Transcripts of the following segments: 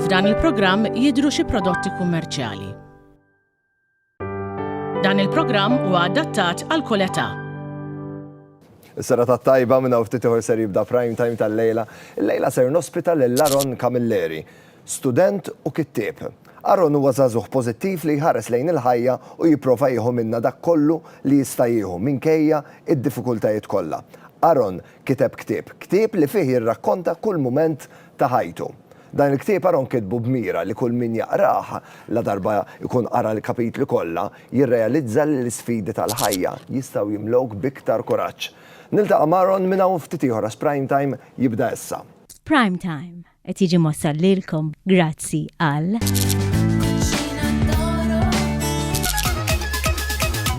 F'dan il-programm jidhru xi prodotti kummerċjali. Dan il-programm huwa adattat għal kull età. Is-sera ta' tajba minn hawn ftit ieħor ser jibda prime time tal-lejla. Il-lejla ser nospita lil Laron Camilleri. Student u kittieb, Aaron huwa żagħżugħ pożittiv li jħares lejn il-ħajja u jipprova jieħu minnha dak kollu li jista' jieħu minkejja d-diffikultajiet kollha. Aaron kiteb ktieb, ktieb li fih jirrakkonta kull mument ta' ħajtu. Dan il-ktieb Aaron kitbu b'mira li kull min jaqrah, ladarba jkun qara l-kapitli kollha, jirrealizza li l-isfidi tal-ħajja jistgħu jimlewk b'iktar kuraġġ. Niltaqa' m'Aaron minn hawn ftit ieħor għax Prime Time jibda issa. Prime Time, Qed jiġi mossal lilkom grazzi għal.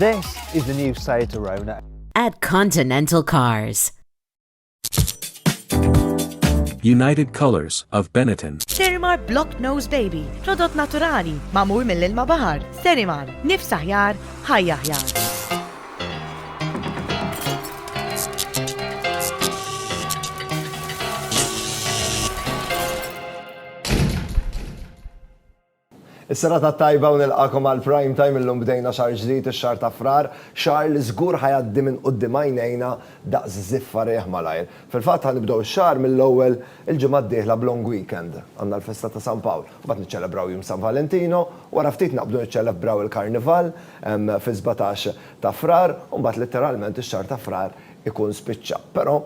This is the new Seat Arona. At Continental Cars. United Colors of Benetton. Sterimar Block Nose Baby, prodott naturali, mamur mill-ilma bahar. Sterimar, nifs aħjar, ħajja aħjar. Is-serata t-tajba u nilqakom għal Prime Time illum bdejna xahar ġdid ix-xahar ta' Frar, xahar li żgur ħa jgħaddi minn quddiem għajnejna daqs żiffa riħ malajr. Fil-fatt ħa nibdew ix-xahar mill-ewwel il-ġimgħa d-dieħla b'long weekend. Għandna l-festa ta' San Pawl, imbagħad niċċelebraw jum San Valentino, wara ftit naqbdu niċċelebbraw il-Karnival, fis-sbatax ta' Frar u mbagħad litteralment ix-xahar ta' Frar ikun spiċċa. Però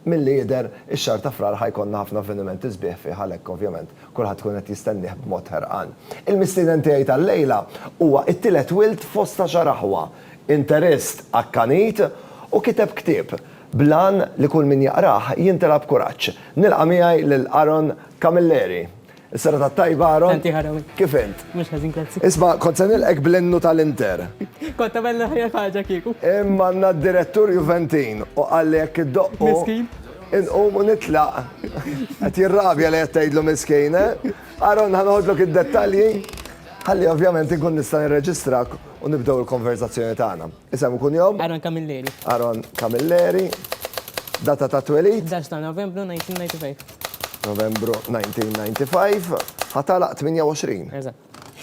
milli jidher ix-xahar ta' Frar ħa jkollna ħafna avvenimenti sbieħ fih għalhekk ovvjament kulħadd ikun qed jistennieh b'mod ħerqan. Il-mistieden tiegħi tal-lejla huwa t-tielet wild fost għaxar aħwa, interist akkanit u kiteb ktieb bl-għan li kull min jaqrah jimtela b'kuraġġ. Nilqa' miegħi lil Aaron Camilleri. Is-serata t-tajba, Aaron. Tant ieħor hawnhekk. Kif int? Mhux ħażin, grazzi. Isma', kont se nilqgħek bl-innu tal-Inter. Kont tagħmel l-aħjar ħaġa kieku. Imma għandna d-direttur Juventin u qal li jekk iddoqqu. Miskin. Inqum u nitlaq. Qed jirrabja li qed tgħidlu miskin, eh? Aaron, ħa noħodlok id-dettalji ħalli ovvjament inkun nista' nirreġistrak u nibdew il-konverżazzjoni tagħna. Isem u kunjom? Aaron Camilleri. Aaron Camilleri. Data ta' twelid? 11 ta' Novembru 1995. Novembru 1995. Ħatalaq 28. Eżatt.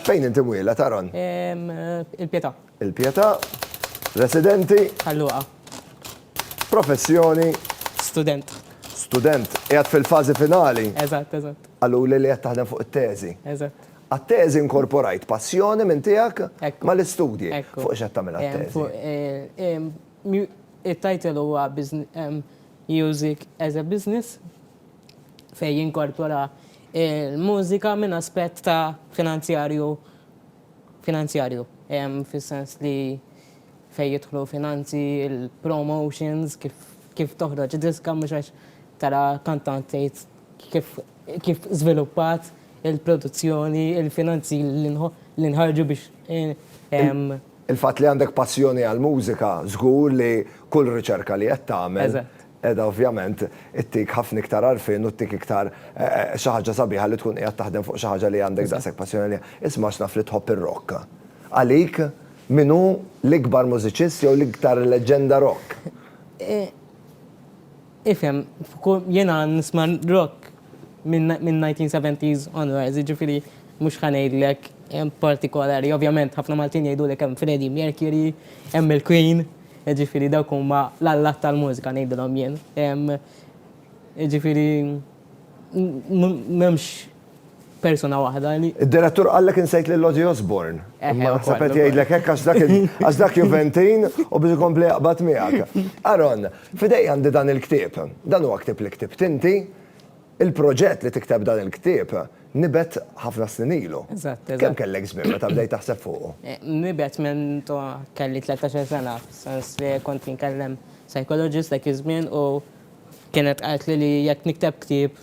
Fejn inti mwiela taron? Il-Pietà. Il-Pietà. Residenti? Ħalluqa. Professjoni? Student. Student. Qiegħed fil-fażi finali? Eżatt, eżatt. Qaluli li qed taħdem fuq it-teżi? Eżatt. Għat-teżi inkorporajt passjoni minn tiegħek mal-istudji. Fuq x'qed tagħmel għat-teżi? It-title huwa Music as a Business fejn jinkorpora l-mużika minn aspett ta' finanzjarju, finanzjarju fis-sens li fejn jidħlu finanzi, il-promotions, kif toħroġ diska mhux għax tara kantant tgħid kif kif żviluppat il-produzzjoni, il-finanzi li nħarġu biex ehm. Il-fatt li għandek passjoni għall-mużika żgur li kull riċerka li qed tagħmel qiegħda ovvjament ittik ħafna iktar għarfien u ttik iktar xi ħaġa sabiħa li tkun qiegħed taħdem fuq xi ħaġa li għandek daqshekk passjoni għaliha. Isma' għax naf li tħobb ir-rock. Għalik min hu l-ikbar mużiċist jew l-iktar leġġenda rock? Ifhem, jiena nisma' rock min-1970s onwards, jiġifieri mhux ħa ngħidlek partikolari. Ovvjament ħafna Maltin jgħidulek hemm Freddie Mercury, hemm il-Queen, jiġifieri dawk huma l-allat tal-mużika ngħidilhom jien. Jiġifieri. M'hemmx persuna waħda li. Id-direttur qallek insejt lil Ozzy Osbourne. Imma naħseb qed jgħidlek hekk għax dak Juventin u biex ikompli jaqbad miegħek. Aaron, f'idejja għandi dan il-ktieb. Dan huwa ktieb li ktibt inti. Il-proġett li tikteb dan il-ktieb nibet ħafna snin ilu. Kemm kellek żmien meta bdejt taħseb fuqu? Nibet minn kelli 13-il sena, fis-sens li kont inkellem psychologist dak iż-żmien u Kienet qaltli li jekk nikteb ktieb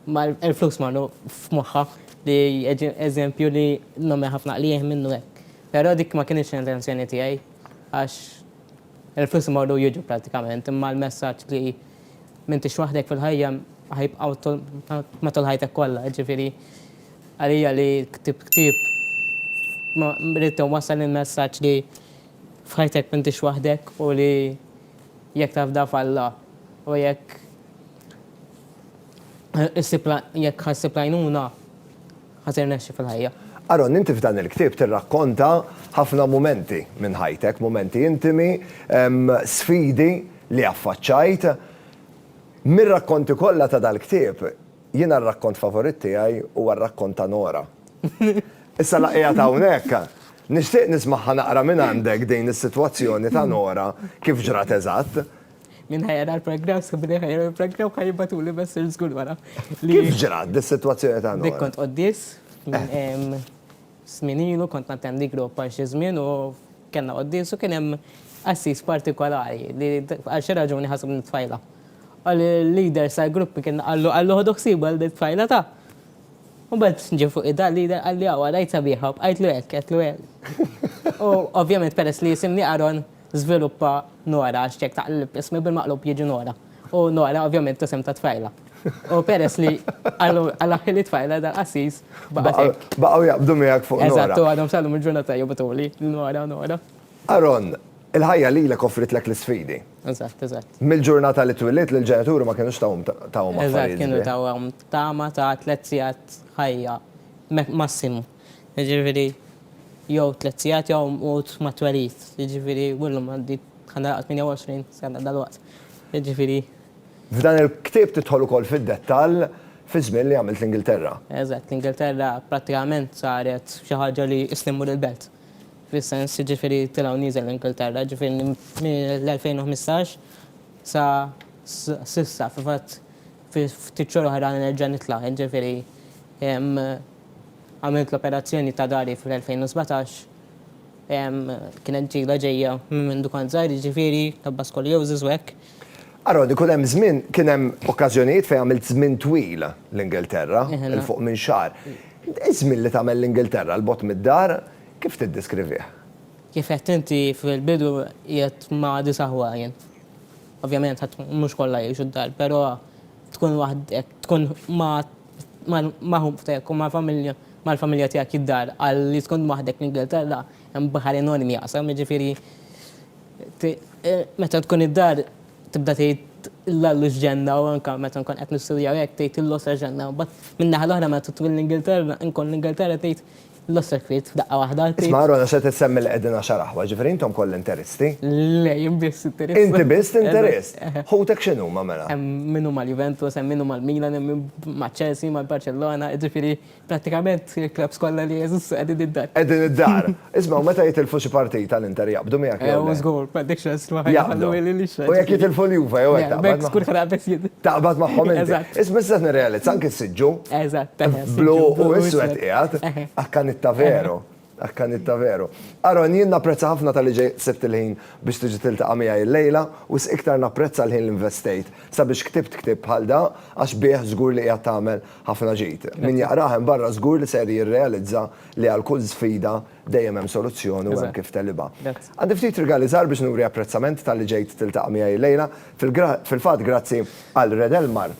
ma l-flus marru f'moħħha li eżempju li nagħmel ħafna qligħ minnu hekk. Però dik ma kinitx l-intenzjoni tiegħi għax il-flus imorru u jiġu prattikament imma l-messaġġ li m'intix waħdek fil-ħajja ħa jibqgħu matul ħajtek kollha. Jiġifieri għalija li ktibt ktieb ridt inwassal il-messaġġ li f'ħajtek m'intix waħdek u li Jekk tafda f'Alla u jekk issib jekk ħa ssib l-għajnuna, ħa tirnexxi fil-ħajja. Aaron, inti f'dan il-ktieb tirrakkonta ħafna mumenti minn ħajtek, mumenti intimi, sfidi li affaċċajt. Mir-rakkonti kollha ta' dal-ktieb, Jiena r-rakkont favorit tiegħi huwa r-rakkont ta' Nora. Issa la qiegħed hawnhekk, nixtieq nismagħha naqra mingħandek din is-sitwazzjoni ta' Nora kif ġrat eżatt. Min ħa jara l-programm skont min ħa jara l-programm ħa jibgħatuli messaġġ żgur wara. Kif ġrat dis-sitwazzjoni ta' Nora? Dik kont quddies. Snin ilu kont nattendi grupp għal xi żmien u kellna quddis u kien hemm qassis partikolari li għal xi raġuni ħaseb li t-tfajla. Qal li l-leader tal-grupp kien qallu qallu ħodu ħsiebu għal din it-tfajla ta. Mbagħad ġie fuq idha l-leader qal li awa rajtha bieha u bqajtlu hekk, għedtlu hekk. U ovvjament peress li jisimni Aaron, Żviluppa Nora għax jekk taqleb ismi bil-maqlub jiġi Nora. U Nora ovvjament hu isem ta' tfajla. U peress li Alla ħili tfajla dan qassis baqa' hekk. Baqgħu jaqbdu miegħek fuq Nora. Eżatt, u għadhom sal-lum il-ġurnata jobotuli Nora, Nora. Aaron, il-ħajja lilek offritlek l-isfidi. Eżatt, eżatt. Mill-ġurnata li twilidt l-ġenituri ma kinux tawhom affarijiet sbieħ. Eżatt, kienu tawhom tama ta' tliet sigħat ħajja massimu. Jiġifieri jew tliet sigħat jew mqugħud mat-twelid. Jiġifieri u llum għandi bħala laqgħa 28 sena dalwaqt. Jiġifieri. F'dan il-ktieb tidħol ukoll fid-dettall fiż-żmien li għamilt l-Ingilterra. Eżatt, l-Ingilterra prattikament saret xi ħaġa li qisni mmur il-belt. Fis-sens, jiġifieri tila' u nieżel l-Ingilterra. Jiġifieri mill-2015 sa s'issa, fil-fatt ftit xhur oħra nerġa' nitla'. Jiġifieri Għamilt l-operazzjoni ta' dahri fl-2017. Kienet ġila ġejja minn mindu kont żgħir, jiġifieri l-ħabba scoliosis u hekk. Aaron, ikun hemm żmien, kien hemm okkażjonijiet fejn għamilt żmien twil l-Ingilterra, 'il fuq minn xahar. Iż-żmien li tagħmel l-Ingilterra 'l bogħod mid-dar, kif tiddiskrivih? Kif għedt inti fil-bidu qiegħed ma' disa' aħwa jien. Ovvjament mhux kollha jgħixu d-dar, però tkun waħdek, tkun ma' mal-ħubb tiegħek u mal-familja, mal-familja tiegħek id-dar għal li tkun waħdek fl-Ingilterra hemm baħar enormi jaqsam, jiġifieri meta tkun id-dar tibda tgħid l-Allu x'ġenna u anke meta nkun qed nistudja u hekk tgħid Illu sa x'ġenna. Imbagħad min-naħa l-oħra meta tmur l-Ingilterra, inkun l-Ingilterra tgħid Lost circuit, f'daqqa waħda. Isma' Arona se tissemmi li qegħdin għaxar aħwa, ġifieri intom kollha interisti? Le, jien biss interist. Inti biss interist? Ħutek x'inhuma mela? Hemm min hu mal-Juventus, hemm min hu mal-Milan, hemm min maċ-Chelsea, mal-Barcellona, jiġifieri prattikament il-klabbs kollha li jeżistu qegħdin id-dar. Qegħdin id-dar. Isma' u meta jitilfu xi partita l-Inter jaqbdu miegħek jew le? Ew żgur, m'għandekx ħasra ma jaqbdu. U jekk jitilfu l-Juve jew hekk taqbad? Le, b'hekk żgur ħa naqbeż jien. Taqbad magħhom inti. Eżatt. Isma' issa qed nirrealizza anke s-siġġu Eżatt. Blu u iswed qiegħed, akkanitta veru. Akkanitta veru. Aaron, jien napprezza ħafna talli ġej sibt il-ħin biex tiġi tiltaqa' miegħi llejla, wisq iktar napprezza l-ħin li nvestejt sabiex ktibt ktieb bħal da għax bih żgur li qiegħed tagħmel ħafna ġid. Min jaqrah hemm barra żgur li ser jirrealizza li għal kull sfida dejjem hemm soluzzjoni u hemm kif tegħlibha. Għandi ftit rigali żgħar biex nuri apprezzament talli ġejt tiltaqa' miegħi llejla. Fil-fatt grazzi għal Red Elmar,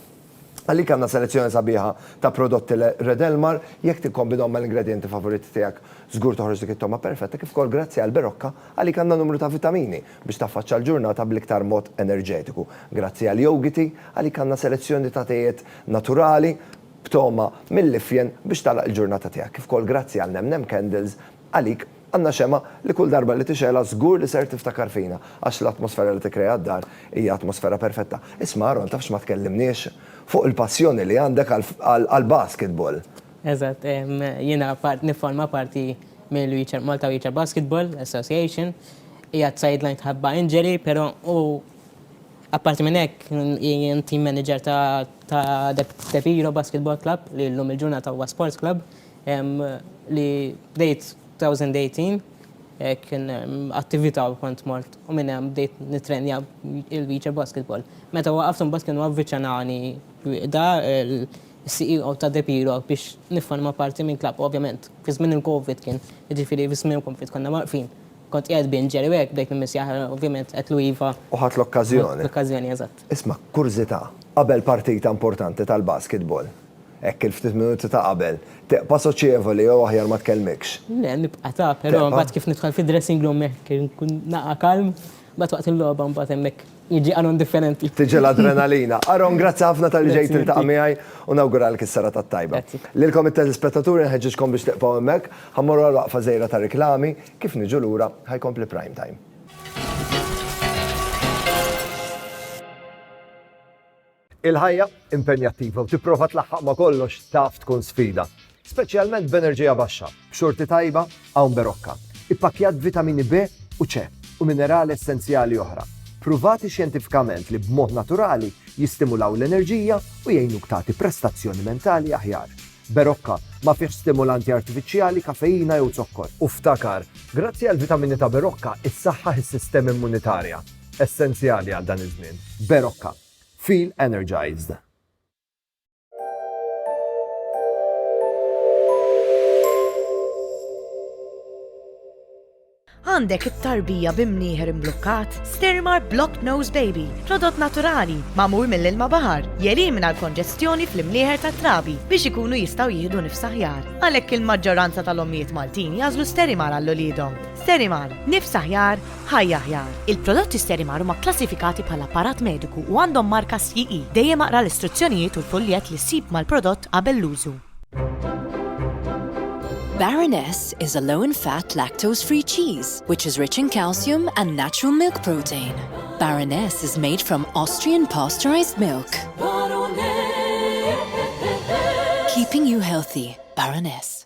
Għalik għandna selezzjoni sabiħa ta' prodotti Red Elmar, jekk tikkombinahom mal-ingredjenti favoriti tiegħek, żgur toħroġ dik it-togħma perfetta kif ukoll grazzi għal Berocca, għalik għandna numru ta' vitamini biex taffaċċa l-ġurnata bl-iktar mod enerġetiku. Grazzi għal Yougity, għalik għandna selezzjoni ta' tejiet naturali b'togħma mill-ifjen biex tagħlaq il-ġurnata tiegħek kif ukoll grazzi għal Nem Nem Candles, għalik Għandna xemgħa li kull darba li tixgħelha żgur li ser tiftakar fina, għax l-atmosfera li tikkrea d-dar hija atmosfera perfetta. Isma' Aaron, tafx ma tkellimniex fuq il-passjoni li għandek għall-basketball? Eżatt, jiena nifforma parti mill-Malta Wheelchair Basketball Association. Hija t-sideline tħabba injury, però u apparti minn hekk jien team manager ta' De Piro Basketball Club li llum il-ġurnata huwa sports club. Li bdejt 2018 kien attivita u kont mort u minn hemm bdejt nittrenja il-beach basketball. Meta waqaft imbagħad kienu avviċenani Rieda, il-CEO ta' De Piro biex nifforma parti minn klabb. Ovvjament fi żmien il-Covid kien, jiġifieri fi żmien il-Covid konna waqfin. Kont qiegħed b'Inġeri u hekk bdejt immissjah ovvjament għedtlu iva. U ħadt l-okkażjoni. L-okkażjoni, eżatt. Isma', kurżita', qabel partita importanti tal-basketball, Hekk il-ftit minuti ta' qabel. Tibqa' soċjevoli jew aħjar ma tkellmikx. Le, nibqa' ta', però mbagħad kif nidħol fid-dressing room hekk inkun naqa' kalm, mbagħad waqt il-logħba mbagħad hemmhekk jiġi Aaron differenti. Tiġi l-adrenalina. Aaron, grazzi ħafna talli ġejt tiltaqa' miegħi u nawguralek is-serata t-tajba. Lilkom it-telespettaturi nħeġġiġkom biex tibqgħu hemmhekk, ħa mmorru għal waqfa żgħira ta' riklami, kif niġu lura ħa jkompli Prime Time. Il-ħajja impenjattiva u tipprova tlaħħaq ma' kollox taf tkun sfida, speċjalment b'enerġija baxxa, b'xorti tajba hawn berokka, ippakkjat b'vitamini B u C u minerali essenzjali oħra, pruvati xjentifikament li b'mod naturali jistimulaw l-enerġija u jgħinuk tagħti prestazzjoni mentali aħjar. Berokka ma fihx stimulanti artifiċjali, kafeina jew zokkor. U ftakar, grazzi għall-vitamini ta' Berokka, issaħħaħ is-sistema immunitarja, essenzjali għal dan iż-żmien. Berokka. Feel Energized! Għandek it-tarbija bi mnieħer imblukkat? Stirmar Blocked Nose Baby, prodott naturali, magħmul mill-ilma baħar, jelimina l-konġestjoni fl-imnieħer tat-trabi biex ikunu jistgħu jieħdu nifs aħjar. Għalhekk il-maġġoranza tal-ommijiet Maltin jażlu Sterimar għall uliedhom. Sterimar, nifs aħjar, Ħajja Aħjar, Il-prodotti Sterimar huma kklassifikati bħala apparat mediku u għandhom marka CE. Dejjem aqra l-istruzzjonijiet u l-fuljett li ssib mal-prodott qabel l-użu. Baroness is a low in fat lactose free cheese which is rich in calcium and natural milk protein. Baroness is made from Austrian pasteurized milk. Keeping you healthy, Baroness.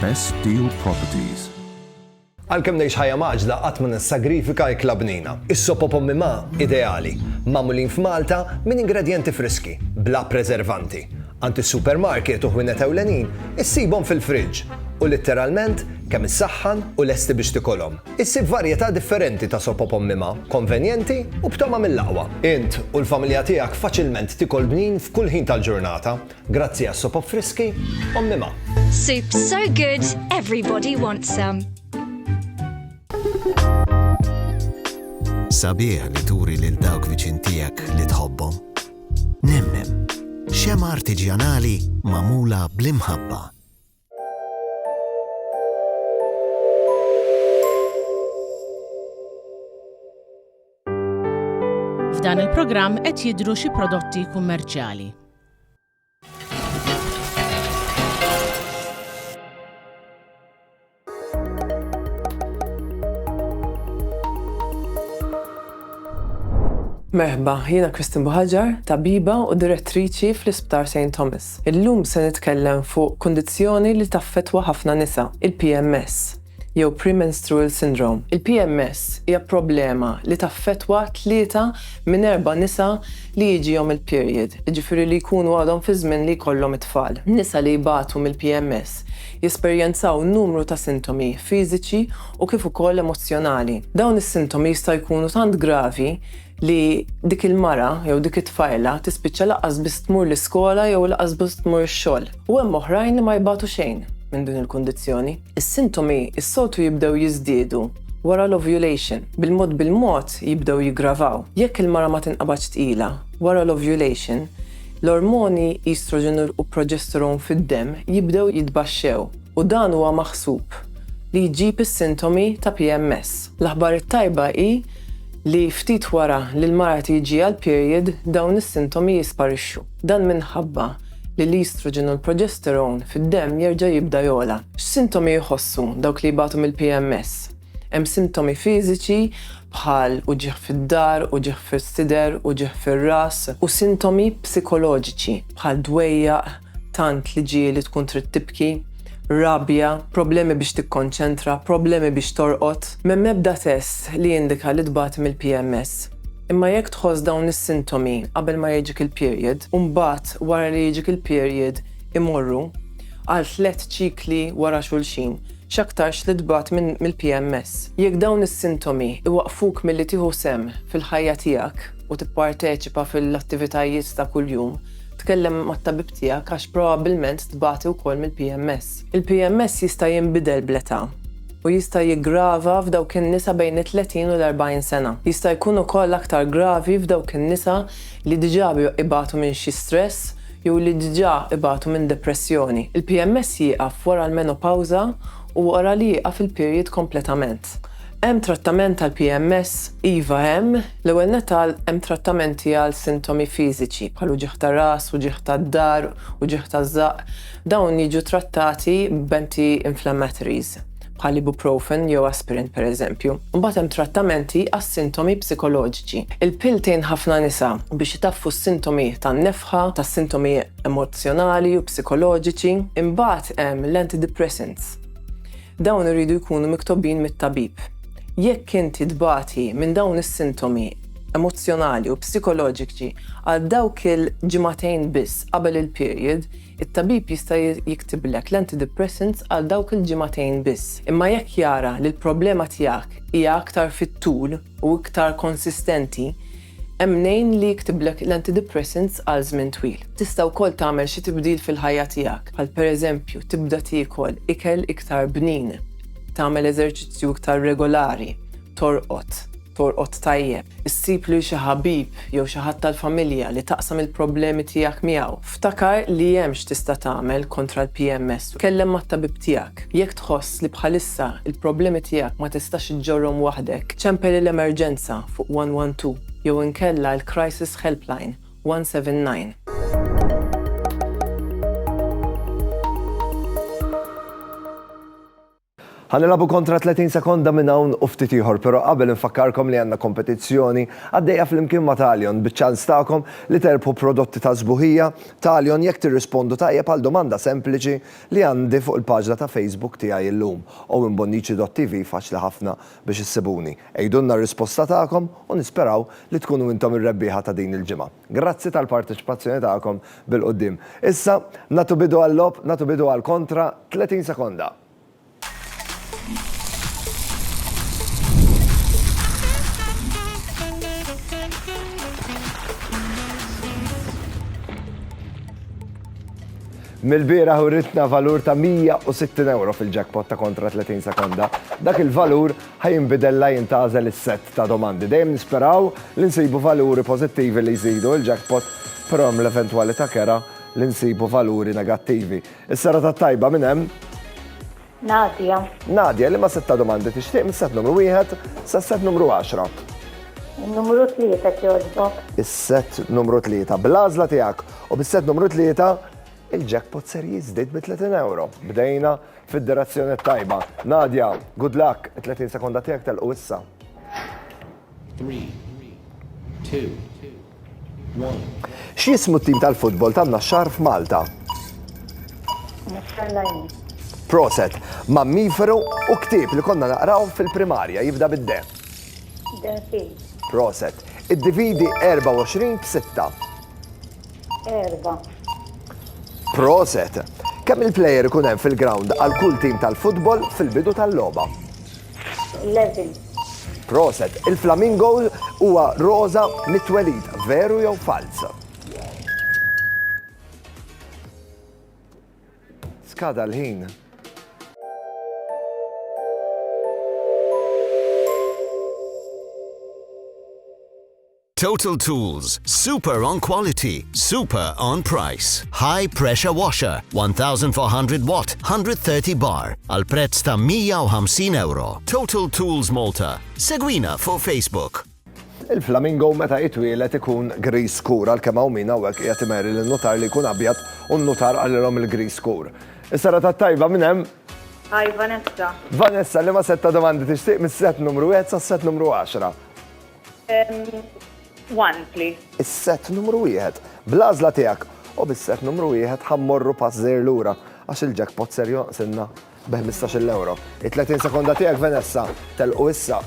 Best Steel Properties. Għalkemm ngħix ħajja mgħaġġla qatt ma nissagrifika ikla bnina. Is-sop o pommi ma' ideali, magħmulin f'Malta minn ingredjenti friski, bla preservanti. Għand is-supermarket u ħwienet ewlenin issibhom fil-fridge u litteralment kemm issaħħan u lesti biex tikolhom. Issib varjetà differenti ta' sop o pommi ma', konvenjenti u b'togħma mill-aqwa. Int u l-familja tiegħek faċilment tikol bnin f'kull ħin tal-ġurnata. Grazzi għas-sopop friski, Ommi Ma. Soups so good, everybody wants some. Sabiħ li turi lil dawk viċin tiegħek li tħobbhom. Nemnem, xema artiġjanali mamula bl-imħabba. F'dan il-programm qed jidhru xi prodotti kummerċjali. Merħba, jiena Kristin Buħaġar, tabiba u direttriċi fl-Isptar St. Thomas. Illum se nitkellem fuq kundizzjoni li taffettwa ħafna nisa, il-PMS, jew Premenstrual Syndrome. Il-PMS hija problema li taffettwa tlieta minn erba' nisa li jiġihom il-period, jiġifieri li jkunu għadhom fiż-żmien li jkollhom it-tfal. Nisa li jbatu mill-PMS jesperjenzaw numru ta' sintomi fiżiċi u kif ukoll emozzjonali. Dawn is-sintomi jistgħu jkunu tant gravi li dik il-mara jew dik it-tfajla tispiċċa lanqas biss tmur l-iskola jew lanqas biss tmur ix-xogħol. U hemm oħrajn li ma jbatu xejn minn din il-kundizzjoni. Is-sintomi s-soltu jibdew jiżdiedu wara l-ovulation, bil-mod bil-mod jibdew jiggravaw. Jekk il-mara ma tinqabadx tqila wara l-ovulation, l-ormoni estrogen u progesterone fid-demm jibdew jitbaxxew. u dan huwa maħsub li jġib is-sintomi ta' PMS. L-aħbar it-tajba hi li ftit wara li l-mara tiġiha l-period dawn is-sintomi jisparixxu. Dan minħabba li l-estrogen u l-progesterone fid-demm jerġa' jibda jogħla. X'sintomi jħossu dawk li jbatu mill-PMS? Hemm sintomi fiżiċi bħal uġigħ fid-dahar, uġigħ fis-sider, uġigħ fir-ras u sintomi psikoloġiċi bħal dwejjaq, tant li ġieli tkun trid tibki, rabja, problemi biex tikkonċentra, problemi biex torqod. M'hemm ebda test li jindika li tbati mill-PMS. Imma jekk tħoss dawn is-sintomi qabel ma jiġik il-period u mbagħad wara li jiġik il-period imorru, għal tliet ċikli wara xulxin, x'aktarx li tbagħat mill-PMS. Jekk dawn is-sintomi jwaqqfuk milli tieħu sehem fil-ħajja tiegħek u tipparteċipa fil-attivitajiet ta' kuljum, tkellem mat-tabib tiegħek għax probabbilment tbati wkoll mill-PMS. Il-PMS jista' jinbidel bl-età u jista' jiggrava f'dawk in-nisa bejn it-30 u l-40 sena. Jista' jkun ukoll aktar gravi f'dawk in-nisa li diġà ibatu minn xi stress jew li diġà ibatu minn depressjoni. Il-PMS jieqaf wara l-menopawża u wara li jieqaf il-period kompletament. Hemm trattament għall-PMS? Iva hemm. L-ewwel nett għal hemm trattamenti għal sintomi fiżiċi bħal uġigħ ta' ras, uġigħ tad-dahar, uġigħ taż-żaqq. Dawn jiġu trattati b'anti-inflammatories. bħal ibuprofen jew aspirin pereżempju. Imbagħad hemm trattamenti għas-sintomi psikoloġiċi. Il-pill tgħin ħafna nisa biex itaffu s-sintomi tan-nefħa, tas-sintomi emozzjonali u psikoloġiċi. Imbagħad hemm l-antidepressants. Dawn iridu jkunu miktobin mit-tabib. Jekk inti tbati minn dawn is-sintomi emozzjonali u psikoloġiċi għal dawk il-ġimagħtejn biss qabel il-period, It-tabib jista' jiktiblek l-antidepressants għal dawk il-ġimagħtejn biss, imma jekk jara li l-problema tiegħek hija aktar fit-tul u iktar konsistenti, hemm mnejn li jiktiblek l-antidepressants għal żmien twil. Tista' wkoll tagħmel xi tibdil fil-ħajja tiegħek, bħal pereżempju tibda tiekol ikel iktar bnin, tagħmel eżerċizzju iktar regolari, torqod, Torqod tajjeb, issib lil xi ħabib jew xi ħadd tal-familja li taqsam il-problemi tiegħek miegħu. Ftakar li hemm x'tista' tagħmel kontra l-PMS u tkellem mat-tabib tiegħek. Jekk tħoss li bħalissa l-problemi tiegħek ma tistax iġġorrhom waħdek, ċempel il-emerġenza fuq 112 jew inkella l-Crisis Helpline 179. Ħa nilagħbu kontra 30 sekonda minn hawn u ftit ieħor però qabel infakkarkom li għandna kompetizzjoni għaddejja flimkien ma' Talion biċ-ċans tagħkom li terbħu prodotti ta' sbuħija Talion jekk tirrispondu tajjeb għal domanda sempliċi li għandi fuq il-paġna ta' Facebook tiegħi illum owenbonnici.tv Faċli ħafna biex issibuni. Għidulna r-risposta tagħkom u nisperaw li tkunu intom ir-rebbieħa ta' din il-ġimgħa. Grazzi tal-parteċipazzjoni tagħkom bil-quddiem. Issa, nagħtu bidu għal-logħob, nagħtu bidu għal kontra 30 sekonda. Mill-bieraħ uritna valur ta' €160 fil-jackpot ta' kontra 30 sekonda. Dak il-valur Ħa jinbidel la jien tagħżel is-sett ta' domandi. Dejjem nisperaw li nsibu valuri pożittivi li jżidu il-jackpot, però hemm l-eventwalità kerha li nsibu valuri negattivi. Is-serata t-tajba min hemm? Nadia. Nadia, liema sett ta' domandi tixtieq mis-sett numru wieħed sas-sett numru għaxra? In-numru tlieta jekk jogħġbok. Is-sett numru tlieta. Bl-għażla tiegħek u bis-sett numru tlieta, il-jackpot ser jiżdied bi 30 ewro. Bdejna Fid-direzzjoni t-tajba. Nadia, good luck, it-30 sekonda tiegħek telqu issa. Three, two, one. X'jismu t-tim tal-futbol tan-Naxxar f'Malta? Naxxar Lajni. Proset, mammiferu u ktieb li konna naqraw fil-primarja jibda bid-de. Denfil. Proset, iddividi 24 b'6. Erba. Proset! Kemm il-plejer ikun hemm fil-ground għal kull tim tal-futbol fil-bidu tal-logħba? 11. Proset, il-flamingo huwa roża mit-twelid, veru jew falz? Skada l-ħin. Total Tools, super on quality, super on price. High pressure washer, 1400 watt, 130 bar, għal prezz ta' 150 euro. Total Tools Malta. Segwina fuq Facebook. Il-flamingo meta jitwielet ikun gris skur għal kemm hawn min hawnhekk qiegħed imeri lil nutar li jkun abjad u nutar għalilhom il-gris skur. Is-sara tat-tajba minn hemm. Hi Vanessa. Vanessa li ma setta domandi tixtieq mis-set numru 1 sas-set numru 10. One, please. Is-sett numru wieħed. Bl-għażla tiegħek u bis-sett numru wieħed ħa mmorru pass żgħir lura għax il-jackpot ser jonqsilna bi 15-il ewro. It-30 sekonda tiegħek Venessa telqu issa.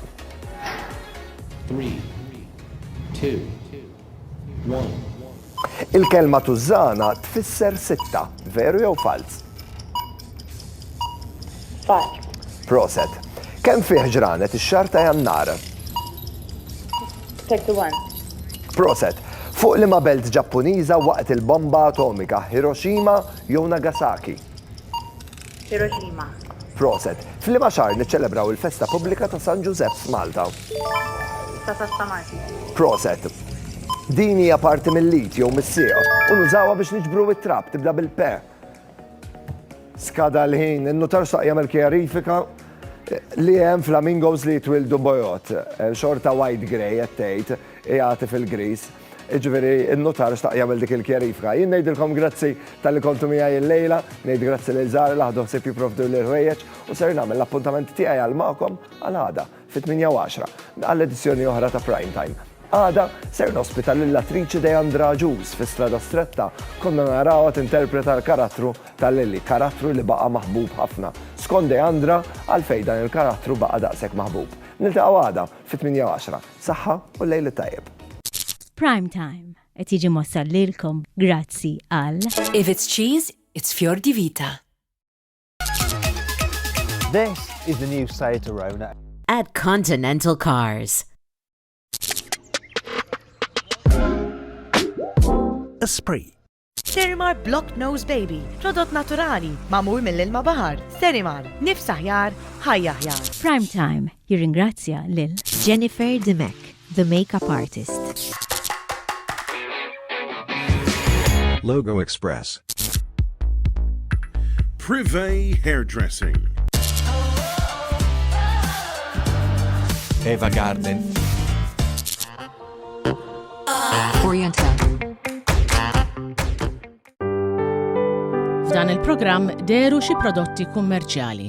Three, two, Il-kelma Tużżana tfisser sitta, veru jew falz? Falz. Proset. Kemm fih ġranet ix-xahar ta' Jannar? 31. Proset. Fuq liema belt Ġappuniża waqgħet il-bomba atomika, Hiroshima jew Nagasaki? Hiroshima. Proset. F'liema xahar niċċelebraw il-festa pubblika ta' San Ġużepp f'Malta? 19 ta' Marzu. Proset. Din hija parti mill-lit jew mis-sieq u nużawha biex niġbru it-trab tibda bil-pe. Skada l-ħin, in-nutar xtaq jagħmel kjarifika li hemm flamingos li jitwildu bojod. Xorta white grey qed tgħid, jagħti fil-gris. Jiġifieri n-nutar xtaq jagħmel dik il-kjarifika. Jien ngħidilkom grazzi talli kontu miegħi illejla, ngħid grazzi lil Zahra li ħadu ħsieb jipprovdu li l-ħwejjeġ u ser nagħmel l-appuntament tiegħi għal magħkom għal għada fit-8:10 għal edizzjoni oħra ta' Prime Time. Għada ser nospita lill-attriċi Deandra Agius fi Strada Stretta konna narawha tinterpreta l-karattru ta' Lily, karattru li baqa' maħbub ħafna. Skont Deandra, għalfejn dan il-karattru baqa' daqshekk maħbub? Niltaqgħu għada! Fit-tmienja u għaxra. Saħħa u l-lejl it-tajjeb. Prime Time qed jiġi mwassal lilkom grazzi għal. If it's cheese, it's Fior di Vita. This is the new Seat Arona. At Continental Cars. Esprit. Sterimar Block Nose Baby, prodott naturali, magħmul mill-ilma baħar. Sterimar, nifs aħjar, ħajja aħjar. Prime Time jirringrazzja lil Jennifer Dimech, the makeup artist. Logo Express. Privé Hairdressing. Eva Garden. F'dan il-programm deru xi prodotti kummerċjali.